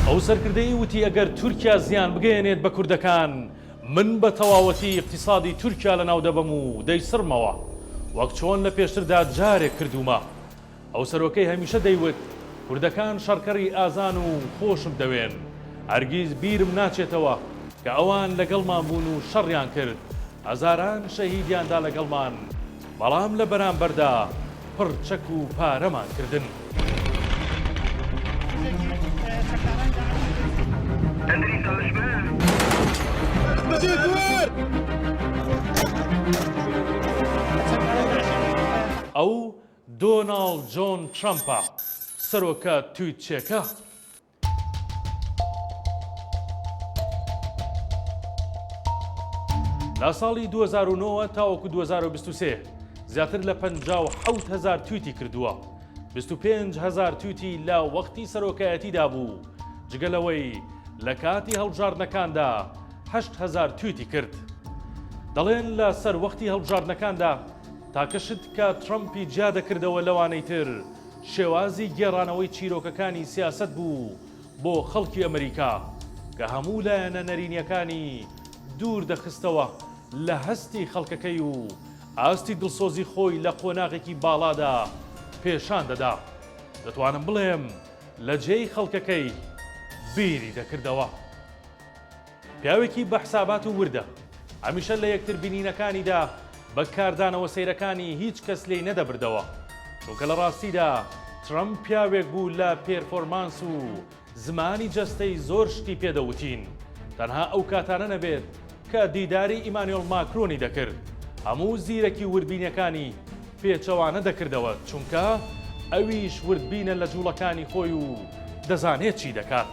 ئەو سەرکردەی وتی ئەگەر تورکیا زیان بگەیەنێت بە کوردەکان، من بە تەواوەتی ئیقتیسادی تورکیا لەناو دەبەم و دەیسڕمەوە، وەک چۆن لە پێشتردا جارێک کردوومە. ئەو سەرۆکەی هەمیشە دەیوت کوردەکان شەڕکەری ئازان و خۆشم دەوێن، هەرگیز بیرم ناچێتەوە کە ئەوان لەگەڵمان بوون و شەڕیان کرد، هەزاران شەهیدیان دا لەگەڵمان، بەڵام لە بەرامبەردا پڕ چەک و پارەمان کردن. ئەو دۆناڵد جۆن ترەمپە، سەرۆکە تویتچێکە. لە ساڵی 2009 تاوەکو 2023 زیاتر لە 57 هزار تویتی کردووە 25 هزار تویتی لە وەختی سەرۆکایەتیدا بوو جگە لەوەی لە کاتی هەڵبژاردنەکاندا هزار تویتی کرد دەڵێن لە سەر وەختی هەڵبژاردنەکاندا تاکەشت کە ترەمپی جیا دەکردەوە لەوانەی تر شێوازی گێڕانەوەی چیرۆکەکانی سیاسەت بوو بۆ خەڵکی ئەمریکا کە هەموو لایەنە نەرینیەکانی دوور دەخستەوە لە هەستی خەڵکەکەی و ئاستی دڵسۆزی خۆی لە قۆناغێکی باڵادا پێشان دەدا دەتوانم بڵێم لە جێی خەڵکەکەی بیری دەکردەوە. پیاوێکی بە حسابات و وردە. هەمیشە لە یەکتر بینینەکانیدا بە کاردانەوە سەیرەکانی هیچ کەس لێی نەدەبردەوە. چونکە لە ڕاستیدا ترەمپ پیاوێک بوو لە پێرفۆرمانس و زمانی جەستەی زۆر شتی پێ دەوتین. تەنها ئەو کاتانە نەبێت کە دیداری ئیمانوێڵ ماکرۆنی دەکرد هەموو زیرەکی و وردبینیەکانی پێچەوانە دەکردەوە چونکە ئەویش وردبینە لە جوڵەکانی خۆی و دەزانێت چی دەکات.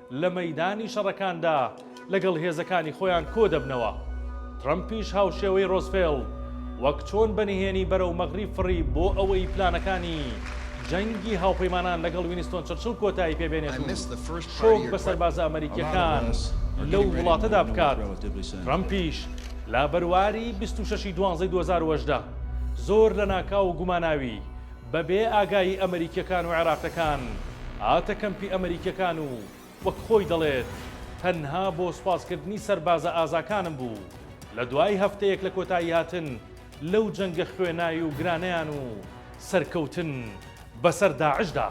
لە مەیدانی شەڕەکاندا لەگەڵ هێزەکانی خۆیان کۆدەبنەوە. ترەمپیش هاوشێوەی ڕۆزفێڵد وەک چۆن بە نهێنی بەرەو مەغریب فڕی بۆ ئەوەی پلانەکانی جەنگی هاوپەیمانان لەگەڵ وینستۆن چرچڵ کۆتایی پێ بێنێت و شۆک بە سەربازە ئەمەریکییەکان لەو وڵاتەدا بکات. ترەمپیش لە بەرواری بیست و شەش ی دوانزەی دوو هەزار و هەژدە زۆر لەناکاو و گوماناوی، بە بێ ئاگایی ئەمریکیەکان و عێراقەکان هاتە کەمپی ئەمریکیەکان و وەک خۆی دەڵێت تەنها بۆ سوپاس کردنی سەربازە ئازاکانم بوو لە دوای هەفتەیەک لە کۆتایی هاتن لەو جەنگە خوێنای و گرانەیان و سەرکەوتن بەسەر داعشدا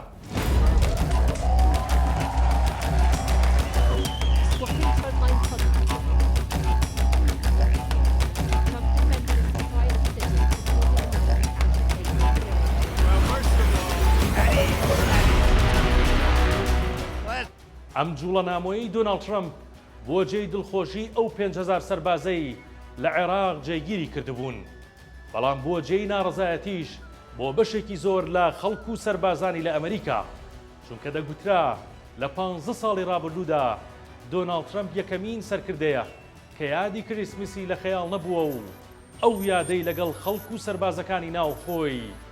ئەم جوڵە نامۆیی دۆناڵد ترەمپ بۆ جێی دڵخۆشی ئەو پێنج هەزار سەربازەی لە عێراق جێگیری کردبوون. بەڵام بووە جێی ناڕەزایەتیش بۆ بەشێکی زۆر لە خەڵک و سەربازانی لە ئەمریکا، چونکە دەگوترا لە پانزە ساڵی ڕابردوودا دۆناڵد ترەمپ یەکەمین سەرکردەیە کە یادی کریسمسی لە خەیاڵ نەبووە و ئەو یادەی لەگەڵ خەڵک و سەربازەکانی ناوخۆی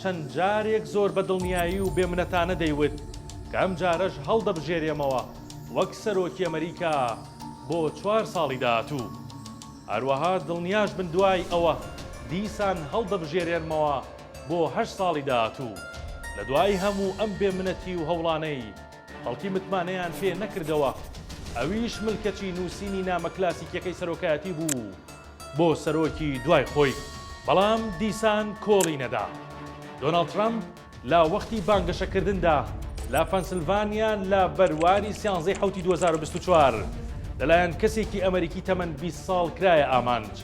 چەند جارێک زۆر بە دڵنیایی و بێ منەتانە دەیوت کە ئەم جارەش هەڵدەبژێرێمەوە وەک سەرۆکی ئەمریکا بۆ چوار ساڵی داهاتوو. هەروەها دڵنیاش بن دوای ئەوە دیسان هەڵدەبژێرێنمەوە بۆ هەشت ساڵی داهاتوو. لە دوای هەموو ئەم بێ منەتی و هەوڵانەی خەڵکی متمانەیان پێ نەکردەوە ئەویش ملکەچی نووسینی نامە کلاسیکیەکەی سەرۆکایەتی بوو. بۆ سەرۆکی دوای خۆی، بەڵام دیسان کۆڵی نەدا. دۆناڵد ترەمپ لە وەختی بانگەشەکردندا لە فەنسلڤانیا لە بەرواری سیانزەی حەوتی دوو هەزار و بیست و چوار لەلایەن کەسێکی ئەمەریکی تەمەن بیست ساڵ کرایە ئامانج،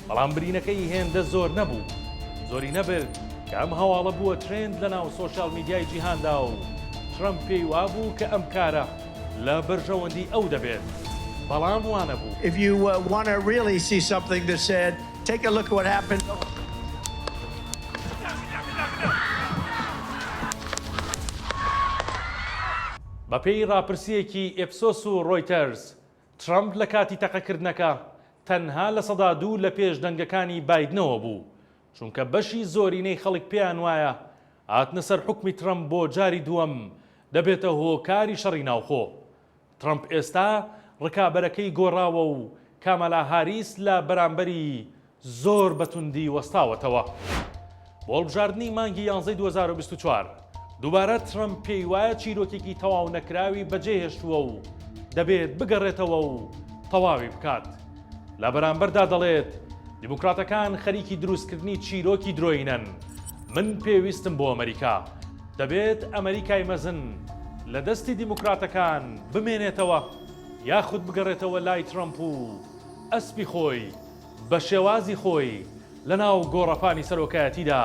بەڵام برینەکەی هێندە زۆر نەبوو. زۆری نەبرد کە ئەم هەواڵە بووە ترێند لەناو سۆشیال میدیای جیهاندا و ترەمپ پێی وابوو کە ئەم کارە لە بەرژەوەندی ئەو دەبێت بەڵام وانەبوو. If you want to really see something that's sad, take a look at what happened. بەپێی ڕاپرسییەکی ئیپسۆس و ڕۆیتەرز، ترەمپ لە کاتی تەقەکردنەکە تەنها لە سەدا دوو لە پێش دەنگەکانی بایدنەوە بوو، چونکە بەشی زۆرینەی خەڵک پێیان وایە هاتنە سەر حوکمی ترەمپ بۆ جاری دووەم دەبێتە هۆکاری شەڕی ناوخۆ. ترەمپ ئێستا ڕکابەرەکەی گۆڕاوە و کامالا هاریس لە بەرامبەری زۆر بە توندی وەستاوەتەوە. بۆ هەڵبژاردنی مانگی یانزەی دوو هەزار و بیست و چوار، دووبارە ترەمپ پێی وایە چیرۆکێکی تەواو نەکراوی بەجێهێشتووە و دەبێت بگەڕێتەوە و تەواوی بکات. لە بەرامبەردا دەڵێت، دیموکراتەکان خەریکی دروستکردنی چیرۆکی درۆینەن، من پێویستم بۆ ئەمەریکا. دەبێت ئەمەریکای مەزن لە دەستی دیموکراتەکان بمێنێتەوە یاخود بگەڕێتەوە لای ترەمپ و ئەسپی خۆی بە شێوازی خۆی لەناو گۆڕەپانی سەرۆکایەتیدا